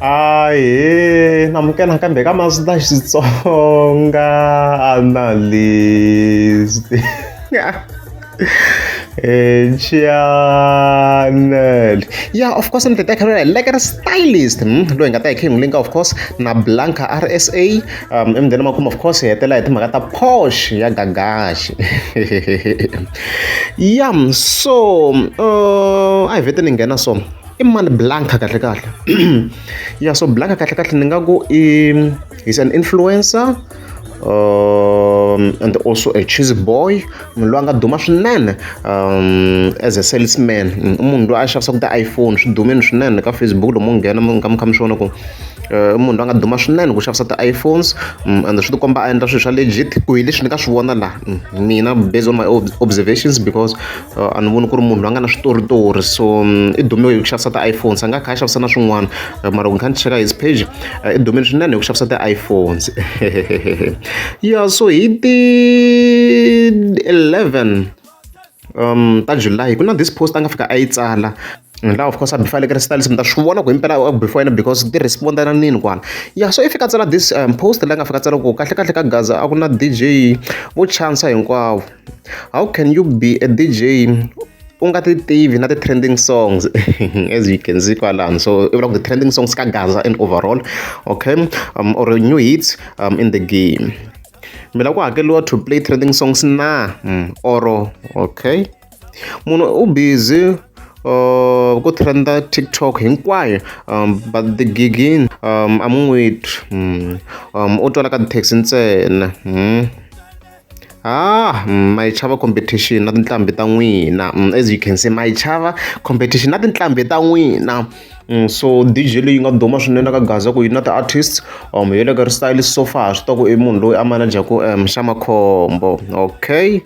Ahee amukela nakambe ka Mazda Xitsonga analyst eh, channel ya of course ni titeka lula like ri stylist hmm? loyi nga ta hi khengu linka of course na blanca rsa um emudeni makumu of course hi hetela hi timhaka ta posh ya gagaxi yam so uh, a hi vete ni nghena so i mani blanca kahlekahle ya so blanca kahlekahle ni nga ku i he's an influencer um, and also a cheese boy munhu loyi a nga duma swinene um, as a salesman mm, i munhu loyi a xavisaka ti-iphone swi dumini swinene ka facebook lomu nghena mi kha mi swi vona ku eh, munhu loyi a nga duma swinene ku xavisa ti-iphones mm, and swi tikomba a endla swilo swa legit ku hi leswi ni nga swi vona laha mm, mina based on my observations because a ni voni ku ri munhu loyi a nga na switoritori so i dume hi ku xavisa ti-iphones a nga kha a xavisa na swin'wana mara ni kha ni cheka his page i dumile swinene hi ku xavisa ti-iphones ya so hi ti eleven um ta july ku na this post a nga fika a yi tsala And la of course a before like style simta swi vona ku impela before yena because ti respond na nini kwana ya so if ka tsala this um, post la nga fika tsala ku kahle kahle ka gaza a ku na DJ vo chance hinkwavo how can you be a DJ u nga ti tivi na ti trending songs as you can see kwalano so i vula ku ti trending songs ka gaza and overall okay um, or new hits um, in the game mina ku hakeliwa to play trending songs na mm, oro okay munhu u busy uh, ku trenda tiktok hinkwayo um, but the gigin um, a mu n'wi twi mm. um, u twala ka taxi ntsena mm. Ah, mm, my chava competition na tinhlambi ta n'wina mm, as you can see my chava competition na tinhlambi ta n'wina Mm, so dj leyi nga duma swinene ka gaza ku yi na ti-artist um hi le ka ristyle so far swi ta ku i munhu loyi a manajaku um xa makhombo okay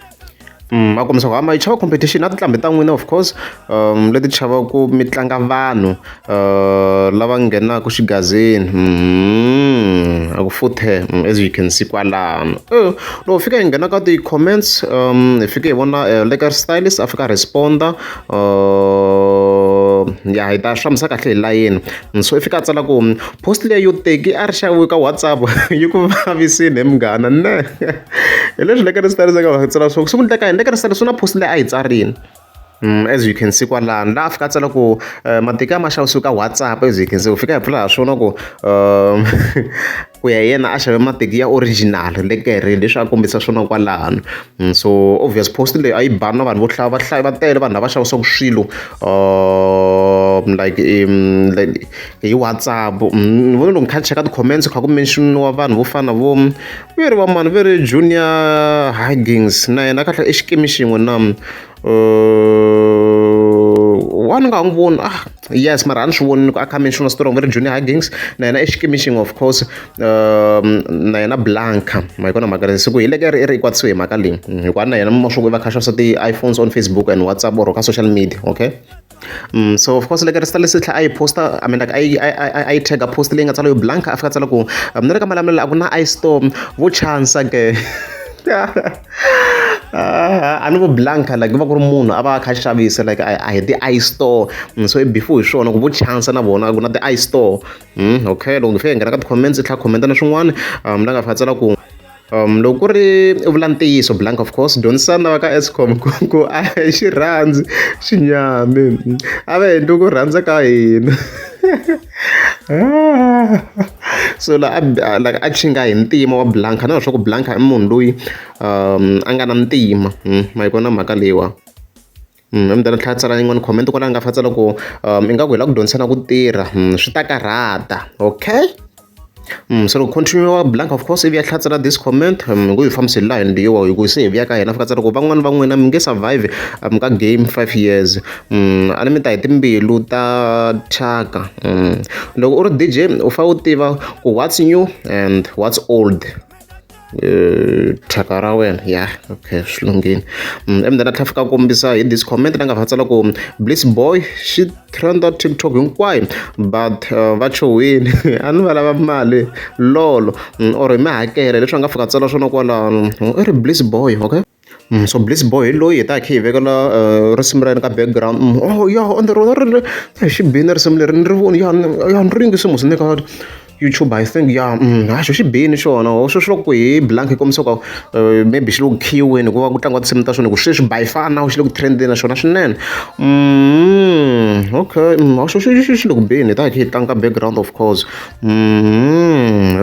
Mm, a kombisa ku hamba yi chava competition na tinqambi ta n'wina of course um leti chavaku mi tlanga vanhu uh, lava nghenaka xigazini mm, a ku futhe mm, as you can see kwalano eh, loko fika hi nghena ka ti-comments um hi fike hi vona eh, leker stylist a fika responda uh, ya hi ta hlamusa kahle hi layeni so i fika a tsala ku post leyi yo teki a ri xaviwe ka whatsapp yi ku vavisini hi munghana ne Hi leswi ni fanekele ndzi ta ringeta ku tsala swo sungula ka yini ni fanekele ndzi tsala swi na post leyi a yi tsarile as you can see kwalano laha a fika a tsala ku matiko ya ma xavisiwi ka WhatsApp as you can see u fika a hi bula ha swona ku ku ya hi yena a xave mateki ya original le ka herini leswi a kombisa swona kwalano so obvious post leyi a yi bani na vanhu vo hlaya vahlayi va tele vanhu lava xavisaka swilo like hi WhatsApp ni vona loko ni kha ni cheka ti-comments kha ku mention-iwa vanhu vo fana na vo. ve ri va mani ve ri Junior Hardings na yena a kahle i xikimi xin'we na wa ni nga n'wi voni ah yes mara a ni swi voni ni ku a kha mention strong ve ri Junior Hardings na yena i xikimi xin'we of course na yena Blanca ma yi kona mhaka leyi siku hi leke ri ri kwatisiwe hi mhaka leyi hikuva na yena mashokwini va kha xavisa ti-iPhones on Facebook and WhatsApp or ka social media okay. Mm, so of course leka rista lesitla a yi posta i mean like a yi a yi tag post leyi nga tsala yo blanca a fika tsala ku um, ni ri ka malamulelo a ku na i storm vo chansa ke a ni vo blanca like va ku ri munhu a va kha xavisa like a hi ti i store mm, so before hi swona ku vo chansa na vona ku na ti i store mm, okay loko ni fika hi nghena ka ti-comments i tlha commenta na swin'wana um la nga fika tsala ku um loko ku ri vula ntiyiso blank of course dyondzisana va ka escom ku ku a hi xi rhandzi xinyami a va endli ku rhandza ka hina so la like a chinga hi ntima wa blanka na leswaku blanka i munhu loyi um a nga na ntima hmm, ma yi kona mhaka leyiwa yin'wani comment kwala ni nga fanisa loko ingaku hi la ku dyondzisana ku tirha swi ta karhata okay se loko continue wa blank of course ivi ya hlatsela this comment hi ku hi fambisa hi line leyiwa hi ku se hi vuya ka hina fika loko van'wani va n'wina mi nge survive ka game five years a ni mi ta hi timbilu ta thyaka loko u ri DJ u fa u tiva ku what's new and what's old Eh, thyaka ra wena ya okay swi lunghile mm, emundeni a tlhafika kombisa hi this comment la nga fa tsala ku bliss boy xi trenda tiktok hinkwayo but uh, va chowini a ni va lava mali lolo mm, or hi mi hakela leswi a nga fika tsala swona kwalano i ri bliss boy okay So Blitz boy hi loyi hi taka hi kha hi vekela risimu ra yena ka background oh ya ende rona ri ri hi xi bile risimu leri ni ri voni ya ni ya ni ringe se mos ni le ka YouTube I think ya ha xo xi bini xona ho sweswi loko hi blank yi kombisa ku maybe xi le ku khiyiweni hikuva ku tlangiwa tinsimu ta swona hi ku sweswi by far now xi le ku trend-eni na xona swinene okay ha xo xi xi xi le ku beni hi ta hi kha hi tlanga ka background of course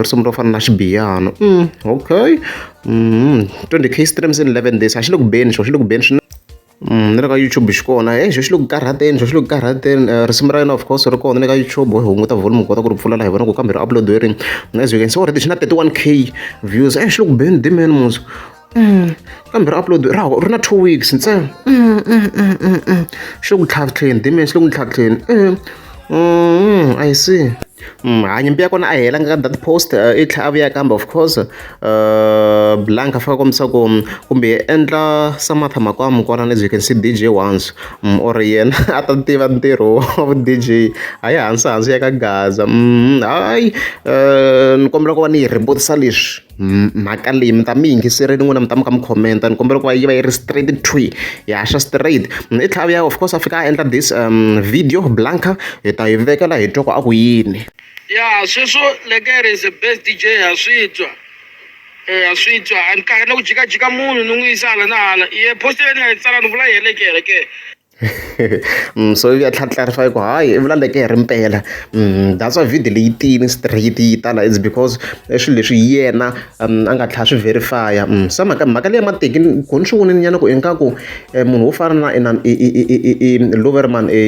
risimu ro fana na xibiyana okay. mm, 20 k streams in 11 days a xi le ku beni xo xi le ku beni swinene mm, ni le ka youtube xi kona e xo xi le ku karhateni xo xi le ku karhateni eh, risimu ra yena of course ri kona le ka youtube hi hunguta volume ku kota ku ri pfula laha hi vona ku kambe ri upload hi rini as you can see already xi na 31 k views e xi le ku beni dimen muso mm, kambe ri upload ra ri na two weeks ntsena xi le ku tlhatlheni dimen xi le ku tlhatlheni Mm, I see. Mm, ha nyimpi ya kona a helanga ka that post uh, i tlhela a vuya kambe of course uh, blank a faka kombisa ku mm, kumbe endla samatha makwamu kona as you can see dj once mm, or yena a ta tiva ntirho wa dj a yi hansi hansi ya ka gaza mm, hayi uh, ni kombela ku va ni yi rebutisa leswi mhaka leyi mi ta mi yingiserile n'wina mi ta mi kha mi comment ni kombela ku va yi va yi ri straight twi yi haxa straight i tlhaviya of course a fika a endla this um video blanca hi ta yi vekela hi twa ku a ku yini ya sweswo lekere is the best dj ha swi twa eh, ha swi twa a ni karhi na ku jikajika munhu ni n'wi yisa hala na hala ye post leyi ni nga yi tsala ni vula yi helekere ke so yi ya tlharifayisa hi ku hayi i vulaleke hi ri mpela that's why video leyi tiyini straight yi tala is because i swilo leswi yena a nga tlhela swi verify-a se mhaka mhaka leyi mateki ku ni swi vonile nyana ku ingaku munhu wo fana na ina i loverman i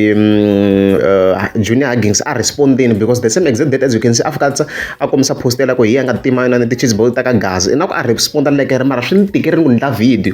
junior huggings a respond-ini because the same exact date as you can see a fika a kombisa post ya la ku hi yena a nga tima yinani ti-cheese board ta ka gaza ingaku a respond-a like ri mara swi ni tikerile ku ni endla video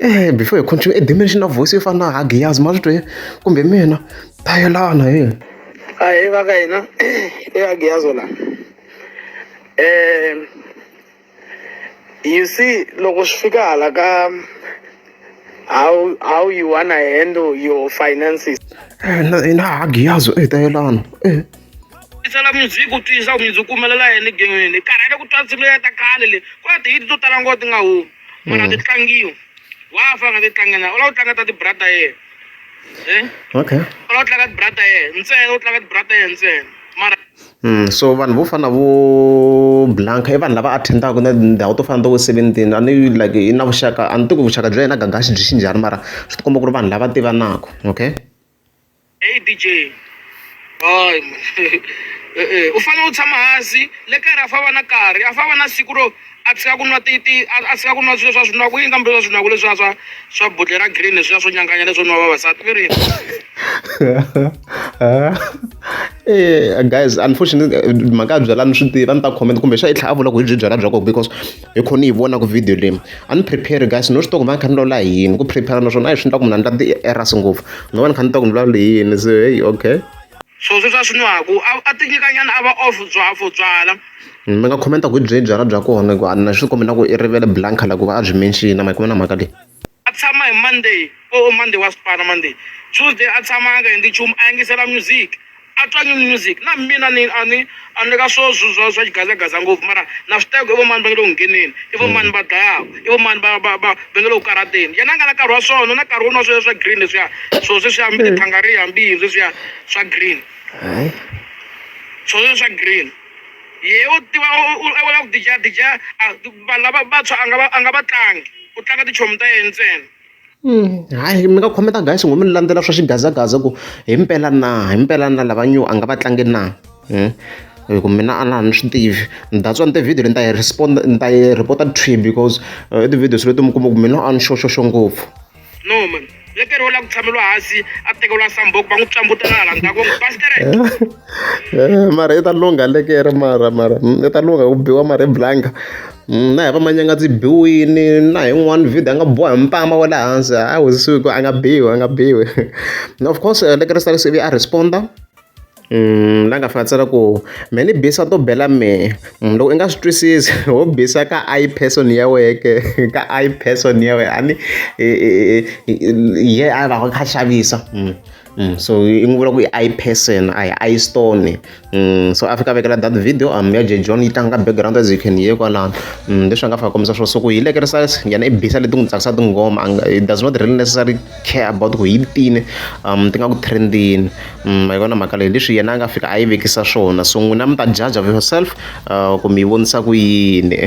Eya before hi continue i dimension na voice yo fana na ha Giyazi ma swi twe kumbe hi mina ta yelana he ahee va ka hina i ya Giyazi la um you see loko swi fika hala ka how how you wanna handle your finances na ha Giyazi e ta yelana e tisela music u twisa music u humelela yini gengeni karhele ku twa nsimu leyi ta khale le ku na tihiti to tala ngoti nga humi a nga ti tlangiwi wa fa a nga ti tlanga na u lava ku tlanga ta tibrata yena um okay u lava ku tlanga tibrata yena ntsena u tlanga tibrata yena ntsena mara Mm, so vanhu vo fana vo blanca i vanhu lava attendaka na tindhawu to fana to vo seventini a ni like i na vuxaka a ni tivi ku vuxaka bya yena gagaxi byi xinjhani mara swi tikomba ku ri vanhu lava tivanaka okay Hey DJ. Hayi e, e, u fanele u tshama hansi le kaya ra fava na karhi a fava na siku ro a tshika ku nwa titi a tshika ku nwa swilo swa swinaku yini kambe swa swinaku leswiya swa swa budle ra green leswiya swo nyanganya leswo nwa vavasati ve rini eh, guys unfortunately mhaka ya byalani swi tiva ni ta comment kumbe xa yi tlhaya a vula ku hi byi byala bya kona because hi kho ni yi vona ku video leyi a ni prepare guys no swi tiva ku va ni kha ni lawula hi yini ku prepare naswona a hi swi endla ku mina ni ta ti-errors ngopfu no va ni kha ni tiva ku ni lawula hi yini se heyi okay so sweswi a swi nwaku a ti nyikanyana a va off byafo byala mi nga khomenta ku byi byala bya kona ku a na swi kombela ku i rivele blanca la ku va a byi menxina ma yi kuma na mhaka leyi a tshama hi monday o oh, oh, monday wa swipana monday tuesday a tshama a nga endli nchumu a yingisela music a twa new music na mina ni a ni a ni le ka swo swa swa xigazagaza ngopfu mara na swi teka i vomani va nge le ku ngheneni i vomani va dlayaka i vomani va va va va nge le ku karateni yena a nga na nkarhi wa swona na nkarhi wun'wana sweswiya swa green leswiya swo sweswiya mi tithangariya mbihi sweswiya swa green swo sweswiya green ye u tiva u u- u lava ku dijadija a- vanhu lava vantshwa a nga va- a nga va tlangi u tlanga tichomi ta yena ntsena hayi mi nga khometa guys ngo mi ni landzela swa xigazagaza ku hi mpela na hi mpela na lava new a nga va tlangi na Hmm? hi ku mina a na ha ni swi tivi that's why ni ti-video ni ta yi respond ni ta yi reporta tree because eh, i ti-videos leti mi kuma ku mina a ni xoxoxo ngopfu no man lekeri ola ku tshameliwa hansi a tekeriwa samboko va n'wi psambuta na hala ndzhaku va n'wi pastere eh, mara i ta lungha lekere mara mara mm, i ta lungha ku biwa mara i blanka mm, na hi va manyanga ndzi biwini na hi n'wana video a nga boha hi mpama wa le hansi a wizisiwi ku a nga biwi a nga biwi of course eh, lekere salisv a responda la nga fika a tsala ku me ni bisa to bela me loko i nga swi twisisi ho bisa ka I person ya wehe ke ka I person ya wehe a ni hi ye a va a kha a xavisa so i n'wi vula ku i I person a hi I stone so a fika a vekela that video a ya Jay John yi tlanga ka background as you can hear kwalano leswi a nga fika a kombisa swo so ku hi le ka yena i bisa leti n'wi tsakisa tinghoma a nga it does not really necessary. care about ku yi tini ti nga ku trend-ini ma yi vona mhaka leyi leswi yena a nga fika a yi vekisa swona so n'wina mi ta judge of yourself ku mi yi vonisa ku yini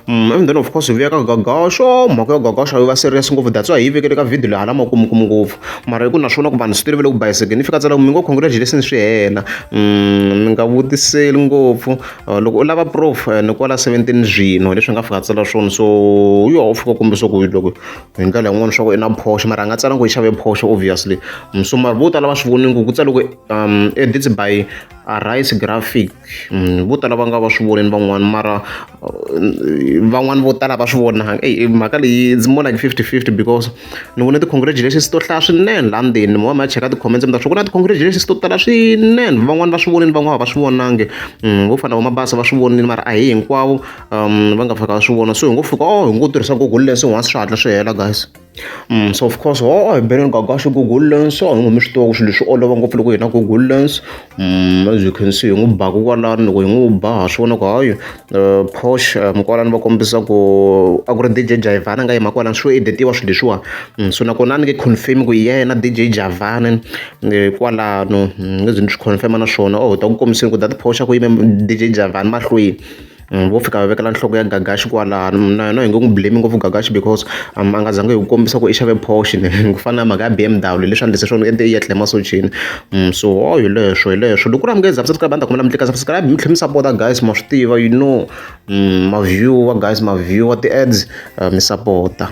Mm, and then of course vuya ka gagaxo mhaka yo gagaxo yi va serious ngopfu that's why hi yi vekele ka video laha lama kumukumu ngopfu mara hi ku naswona ku vanhu swi tolovele ku bayiseke ni fika tsala ku mi ngo congratulations swi hela mm, mi nga vutiseli ngopfu loko u lava proof ni kwala seventeen zwino leswi nga fika tsala swona so u yo u fika kumbe swa ku loko hi ndlela yin'wana swa ku i na phosho mara a nga tsala ku i xave phosho obviously mm, so mara vo tala va swi vonini ku ku tsala ku um edits by arise graphic mm, vo tala va nga va swi vonini van'wana mara uh, van'wana vo tala va swi vona mhaka leyi it's more like fifty fifty because ni vone ti-congratulations to hlaya swinene laha ndzeni mi va mi ya cheka ti-comments mi ta swi ku na ti-congratulations to tala swinene van'wani va swi vonile van'wana va swi vonangi mm, vo fana va mabasa va swi vonile mara a hi hinkwavo um va nga fika va swi vona so hi ngo fika o oh, hi ngo tirhisa google lens once swi hatla swi hela guys mm, so of course o oh, hi oh, beneni gagaxi google lens a hi ngo mi swi tiva ku swilo leswi olova ngopfu loko hi na google lens byi khensiwa hi n'wi ba kokwalani loko hi n'wi ba ha swi vona ku hayi phox mukwalani va kombisa ku a ku ri D_J Jayivana a nga yima kwalano swo editiwa swilo leswiwa so nakona a ni nge confirm ku hi yena na D_J Javani kwalano ni nge ze ni swi confirm-a na swona or hi ta ku kombiseni ku dati phoxa ku yime D_J Javani mahlweni. vo fika va vekela nhloko ya Gagax kwalano na yena hi nge n'wi blame ngopfu Gagax because a nga zangi hi ku kombisa ku i xave Porsche ku fana na mhaka ya B_M_W leswi a ni se swona u endle i yetle emasojeni so ho hi leswo hi leswo loko ku ri a mi nge za mi subscribe a ni ta kombela mi tlika subscribe mi tlhela mi sapota guys ma swi tiva you know ma view-a guys ma view-a ti-ads mi sapota.